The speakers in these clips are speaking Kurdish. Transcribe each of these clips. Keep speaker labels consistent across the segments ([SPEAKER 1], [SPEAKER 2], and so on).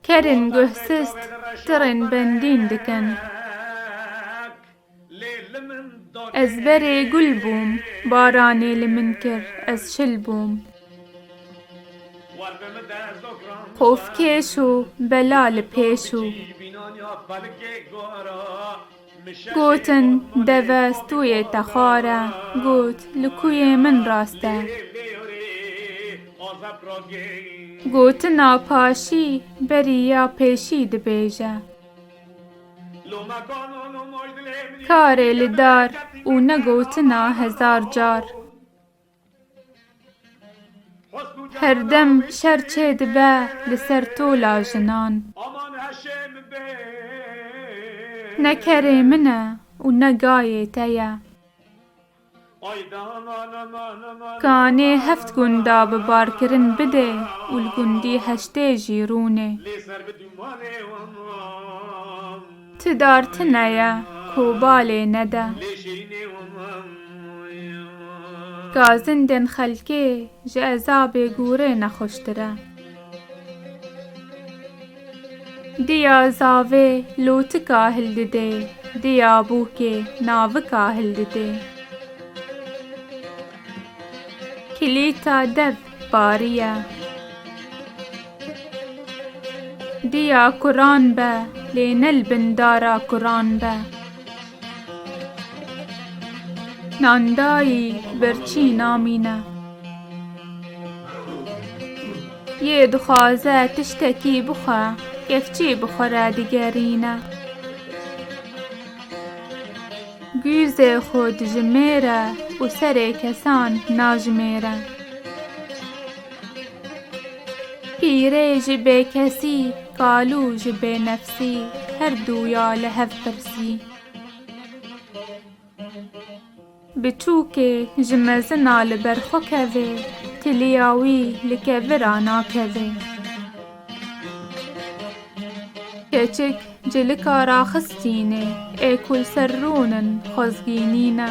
[SPEAKER 1] Kerên guh sist tirên bendîn dikin. Ez berê gul bûm, baranê li min kir, ez şil bûm. Xofkêş û bela li pêş û. Gotin, Deve stûyê te xwar e. Got, Li ku yê min rast e. Gotina paşî berî ya pêşî dibêje. Karê li dar û ne gotina hezar car. Her dem şer çê dibe li ser tola jinan. Ne kerê min e û ne gayê te ye. Ka nê heft gunda bi barkirin bidê û li gundî heştê jî rûnê. Ti dar ti neye ku balê nede. Ka zindên xelkê ji ezabê gûrê nexweştir e. Diya zavê lotika hildidê, diya bûkê navika hildidê. Kilîta dev bariye. Dêya kuran be lê ne li bin dara kuran be. Nandayî birçî namîne. Yê dixwaze tiştekî bixwe kevçî bixwere digerîne. Gûzê xwe dijimêre û serê kesan najimêre. Pîrê ji bêkesî, kalû ji bênefsî, her dû ya li hev pirsî. Biçûkê ji mezina li ber xwe kevê, tiliya wî li kevira nakevê. Keçik cilika raxistînê, ê ku li ser rûn in xwezgînî ne.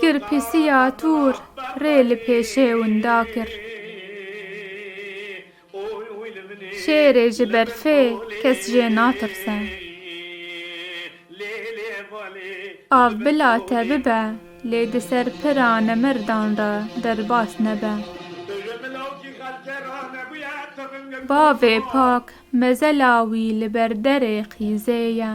[SPEAKER 1] Kir pisiya tûr rê li pêşê winda kir. Şêrê ji berfê kes jê natirse. Av bila te bibe lê di ser pira nemerdan re derbas nebe. Bavê pak mezela wî li ber derê qîzê ye.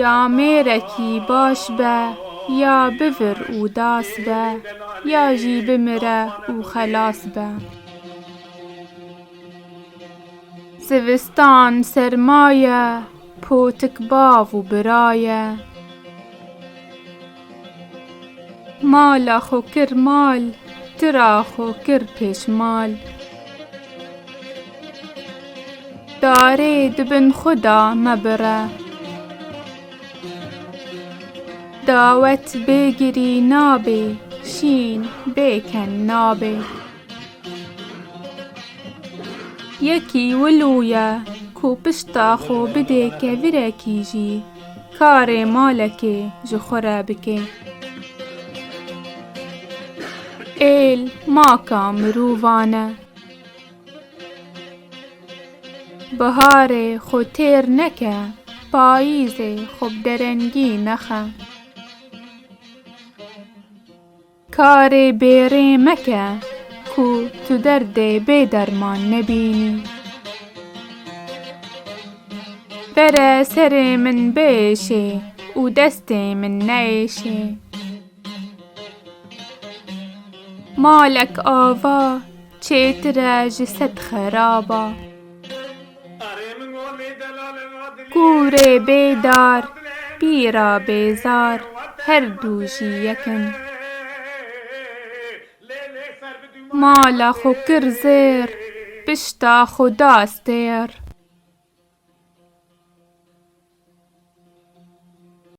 [SPEAKER 1] Ya mêrekî baş be, ya bivir û das be, ya jî bimire û xelas be. Zivistan serma ye, potik bav û bira ye. Mala xwe kir mal, tira xwe kir pêşmal. Darê di bin xwe de mebire. Dawet bê girî nabê, şîn bê ken nabê. Yekî wilo ye ku pişta xwe bidê kevirekî jî. Karê malekê ji xwe re bike. Êl maka mirovan e. Biharê xwe têr neke, payîzê xwe bi derengî nexe. Karê bêrê meke ku tu derdê bê derman nebînî. Bere serê min biêşê û destê min neêşê. Malek ava. Çêtire ji sed xerab a. Kûrê bê dar, pîra bê zar her dû jî yek in. Mala xwe kir zêr, pişta xwe da stêr.